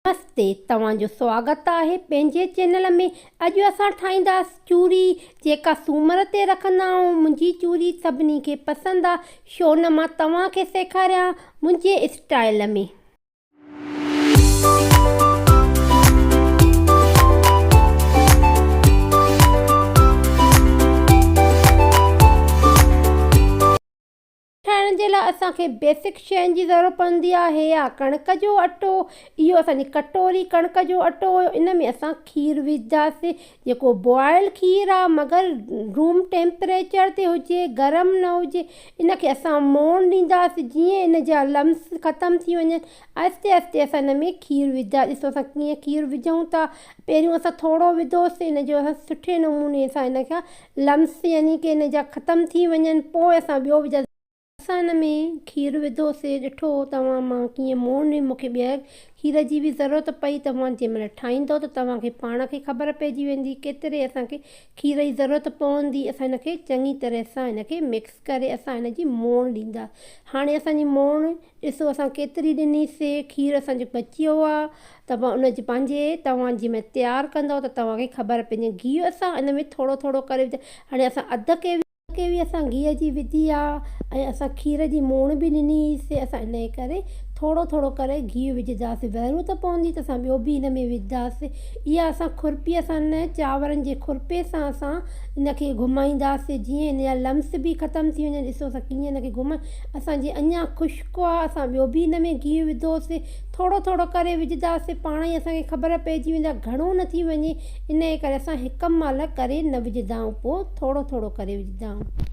نمستي توهان جو سواگت آهي پنهنجي چينل ۾ اڄ اسان ٺاهينداس چوڙي جيڪا سومر تي رکندا آهون منهنجي چوڙي سڀني کي پسند آ شو نه مان توهان کي سيکاريان منهنجي اسٽائل ۾. ٺاهڻ جي لاء اسان کي بيسڪ شين جي ضرورت پوندي آهي يا ڪڻڪ جو اٽو اهو اسان جي ڪٽوري ڪڻڪ جو اٽو هيو ان ۾ اسان کير وجهداسين جيڪو بوائل کير آهي مگر روم ٽيمپريچر تي هجي گرم نه هجي ان کي اسان مون ڏينداسين جيئن ان جا لمس ختم ٿي وڃن آهستي آهستي اسان ان ۾ کير وڌا. ڏسو اسان ڪيئن کير وجهون ٿا. پهريون اسان ٿورو وڌوسين. ان جو اسان سٺي نموني سان ان کان Lumps يعني ڪه ان جا ختم ٿي وڃن پوء اسان ٻيو وجهاسين. اسان ان ۾ کير وڌوسين. ڏٺو توهان مان ڪيئن مون مون کي ٻيهر کير جي به ضرورت پئي. توهان جنهن مهل ٺاهيندو ته توهان کي پاڻ کي خبر پئجي ويندي ڪيتري اسان کي کير جي ضرورت پوندي. اسان ان کي چڱي طرح سان ان کي مڪس ڪري اسان ان جي مون ڏيندا. هاڻي اسان جي مون ڏسو اسان ڪيتري ڏني سي کير اسان جو بچي ويو آ توهان ان جي پنهنجي توهان جي ۾ تيار ڪندو ته توهان کي خبر پنهنجي گيهه اسان ان ۾ ٿورو ٿورو ڪري وجهي هاڻي اسان اڌ ڪيوي اڌ ڪيوي اسان گيهه جي وڌي آ ۽ اسان کير جي موڻ به ڏني هئي سي اسان ان جي ڪري ٿورو ٿورو ڪري گيهه وجهدا سي ضرورت پوندي ته اسان ٻيو به ان ۾ وجهدا سي اها اسان کورپي اسان ان چانورن جي کورپي سان اسان ان کي گهمائيندا سي جيئن ان جا لمس به ختم ٿي وڃن ڏسو اسان ڪيئن ان کي گهمائي اسان جي اڃا خشڪ آ اسان ٻيو به ان ۾ گيهه وڌوسين ٿورو ٿورو ڪري وجهداسين پاڻ ئي اسان کي خبر پئجي ويندي آ گهڻو نه ٿي وڃي انهي ڪري اسان هڪ مهل ڪري نه وجهدا آهيون پوء ٿورو ٿورو ڪري وجهدا آهيون.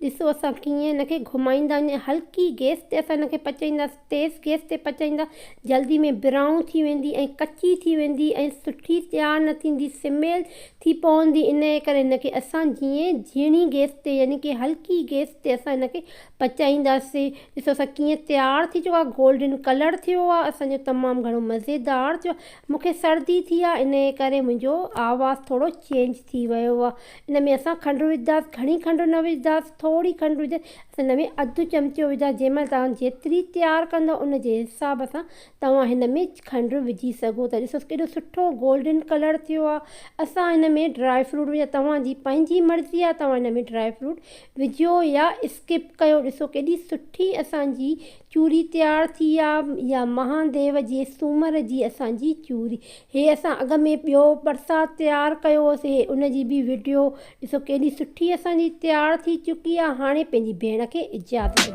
ڏسو اسان ڪيئن ان کي گهمائيندا وڃي هلڪي گئس تي اسان ان کي پچائينداسين تيز گئس تي پچائيندا جلدي ۾ برائون ٿي ويندي ۽ ڪچي ٿي ويندي ۽ سٺي تيار نه ٿيندي سميل ٿي پوندي انهي ڪري ان کي اسان جيئن جهيڻي گئس تي يعني ڪي هلڪي گئس تي اسان ان کي پچائينداسين ڏسو اسان ڪيئن تيار ٿي چڪو آهي گولڊن ڪلر ٿيو آهي اسان جو تمام گهڻو مزيدار ٿيو آهي مونکي سردي ٿي آهي انهي ڪري منهنجو آواز ٿورو چينج ٿي ويو آهي ان ۾ اسان کنڊ وجهنداس گهڻي کنڊ نه وجهنداس ٿوري کنڊ وجهي اسان هن ۾ اڌ چمچو وجهنداس جنهن مهل توهان جيتري تيار ڪندو ان جي حساب سان توهان هن ۾ کنڊ وجهي سگهو ٿا ڏسو ڪيڏو سٺو گولڊن ڪلر ٿيو آ اسان هن ۾ ڊرائي فروٽ وجهندا توهان جي پنهنجي مرضي آ توهان هن ۾ ڊرائي فروٽ وجهيو يا اسڪپ ڪيو ڏسو ڪيڏي سٺي اسان جي چوري تيار ٿي آ يا مهان ديو جي سومر جي اسان جي چوري هي اسان اڳ ۾ ٻيو برسات تيار ڪيو هوسين ان جي به وڊيو ڏسو ڪيڏي سٺي اسان جي تيار ٿي چڪي آ هاڻي پنهنجي ڀيڻ کي اجازت